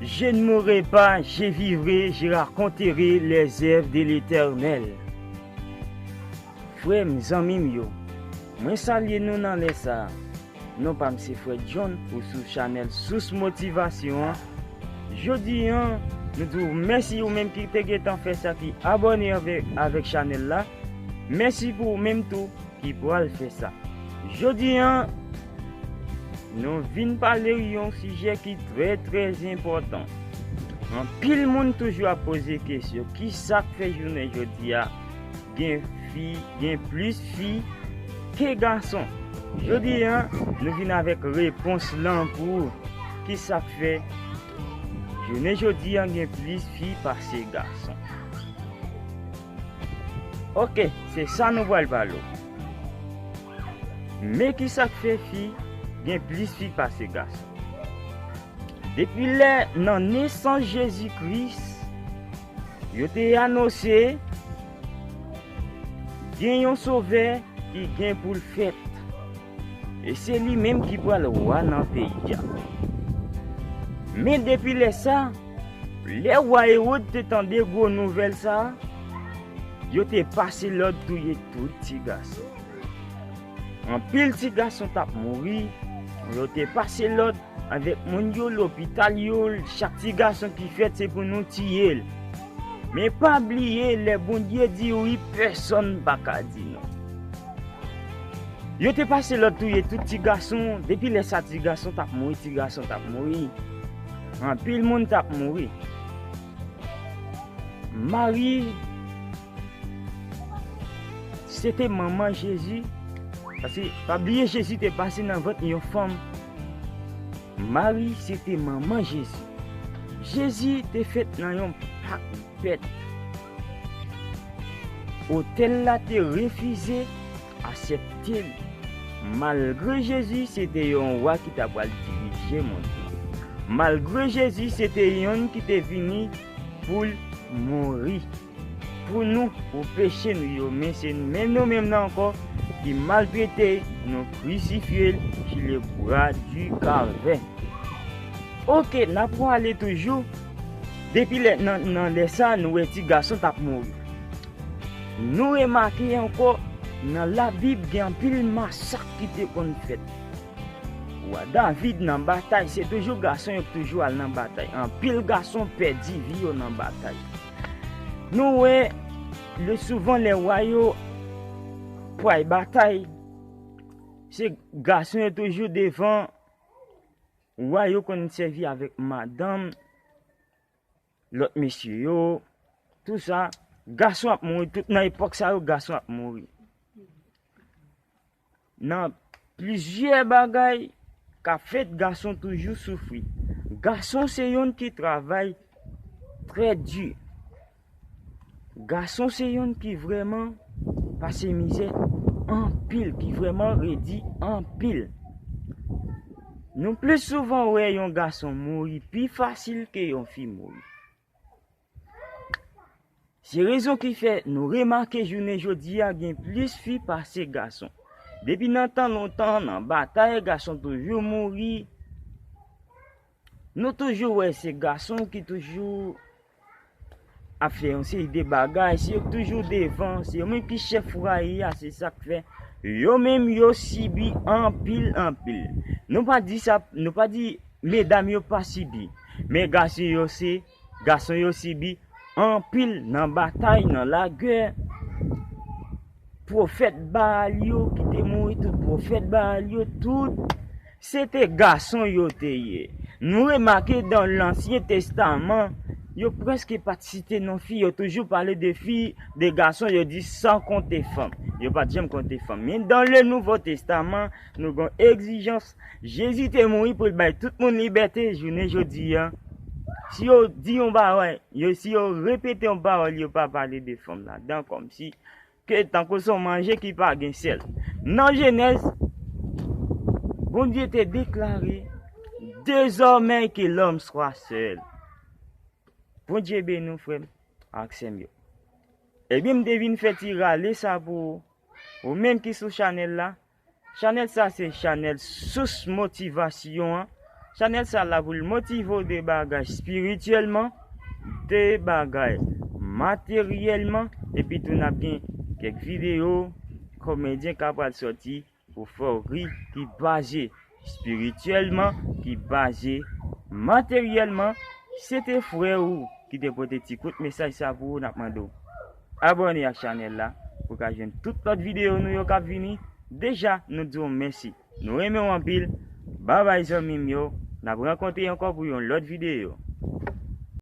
Je ne mourrai pas, je vivrai, je raconterai les oeuvres de l'Eternel. Frè m, zanmi m yo, mwen salye nou nan lè sa a. Non pa m se frè John ou sou chanèl Sous Motivasyon an. Jodi an, nou di w mèsi ou menm ki te gen tan fè sa ki abòne avèk chanèl la. Mèsi pou ou menm tou ki pral fè sa. Jodi an. Nou vin pale yon sijè ki trè trè enpòtan. Anpil moun toujou ap poze kesyon, ki sa k fè jounen jodi a gen fi, gen plis fi ke gason? Jodi a, nou vin avèk repons lan pou ou. Ki sa k fè jounen jodi a gen plis fi pase gason? Ok, se sa nou pral pale ou. Men kisak fè fi gen plis fi pase gason. Depi lè nan nesans Jezi Kris, yo te anonse gen yon Sovè ki gen pou l fèt, e se li menm ki pral wa nan peyi a. Men depi lè sa, lè wa Ewod te tande gwo nouvèl sa a, yo te pase lòd touye tout ti gason. Anpil ti gason t ap mouri, yo te pase lòd avèk moun yo lopital yo, chak ti gason ki fèt se pou nou tiye l. Men pa bliye lè Bondye di wi pèsòn pa ka di non. Yo te pase lòd touye tout ti gason, depi lè sa ti gason t ap mouri, ti gason t ap mouri. Anpil moun t ap mouri. Mari. Se te manman Jezi, paske pa bliye Jezi te pase nan vant yon fanm. Mari se te manman Jezi. Jezi te fèt nan yon pak bèt. Otèl la te refize asepte li. Malgre Jezi se te yon wa ki ta pral dirije mond lan. Malgre Jezi se te yon ki te vini pou l mouri. Pou nou, pou peche nou yo, men se nou menm nou menm nan ankò ki maltrete l, nou krisifye l su le bwa du kalvè. Ok, n ap pwale toujou, depi lè nan lè sa nou wè ti gason t ap mouri. Nou remake ankò nan labib gen anpil masak ki te konn fèt. Wa David nan batay se toujou gason yo k toujou al nan batay. Anpil gason pèdi vi yo nan batay. Nou wè le souvan lè wa yo pway batay, se gason yo toujou devan, wa yo konn sèvi avèk madanm, lòt mesye yo, tou sa, gason ap mouri, tout nan epòk sa yo, gason ap mouri. Nan plizyè bagay ka fèt gason toujou soufri. Gason se yonn ki travay trè di. Gason se yonn ki vrèman pase mizè anpil, ki vrèman redi anpil. Nou plis souvan wè yon gason mouri pi fasil ke yon fi mouri. Se rezon ki fè nou remake jounen jodi a gen plis fi pase gason. Depi nan tan lontan nan batay gason toujou mouri. Nou toujou wè se gason ki toujou ap fè yon seri de bagay, se yo ki toujou devan, se yo menm ki chèf fwaye a, se sak fè yo menm yo sibi anpil anpil. Nou pa di sa, nou pa di. Medam yo pa sibi, men gason yo se, gason yo sibi anpil nan batay, nan lagè. Pwofèt Baal yo ki te mouri tout, pwofèt Baal yo tout, se te gason yo te ye. Nou remake dan lansyen testaman, yo preske pa t site non fi, yo toujou pale de fi, de gason, yo di san konte fanm. Yo pa t janm konte fanm. Men dan le nouvo testaman, nou gen egzijans Jezi te mouri pou l bay tout moun libète jounen jodi a. Si yo di yon bagay, yo si yo repete yon pawòl yo pa pale de fanm la dan kòmsi ke tankou son manje ki pa gen sèl. Nan Jenèz, Bondye te deklare, Dezòmè ke lòm swa sèl. Bondye beni w frè m ak sè m yo. Ebyen m te vin fè ti rale sa pou ou menm ki sou chanèl la. Chanèl sa se chanèl sous motivasyon an chanèl sa la poul motive w de bagay spirityèlman de bagay materyèlman epi tou nap gen kèk videyo komedyen ka pral sòti pou fè w ri ki baze spirityèlman, ki baze materyèlman, se te frè ou ki te pote ti kout mesaj sa pou ou nap mande w abòne ak chanèl la pou ka jwenn tout lòt videyo nou yo kap vini deja nou di w mèsi nou renmen w anpil babay zanmi m yo nap rankontre ankò pou yon lòt videyo.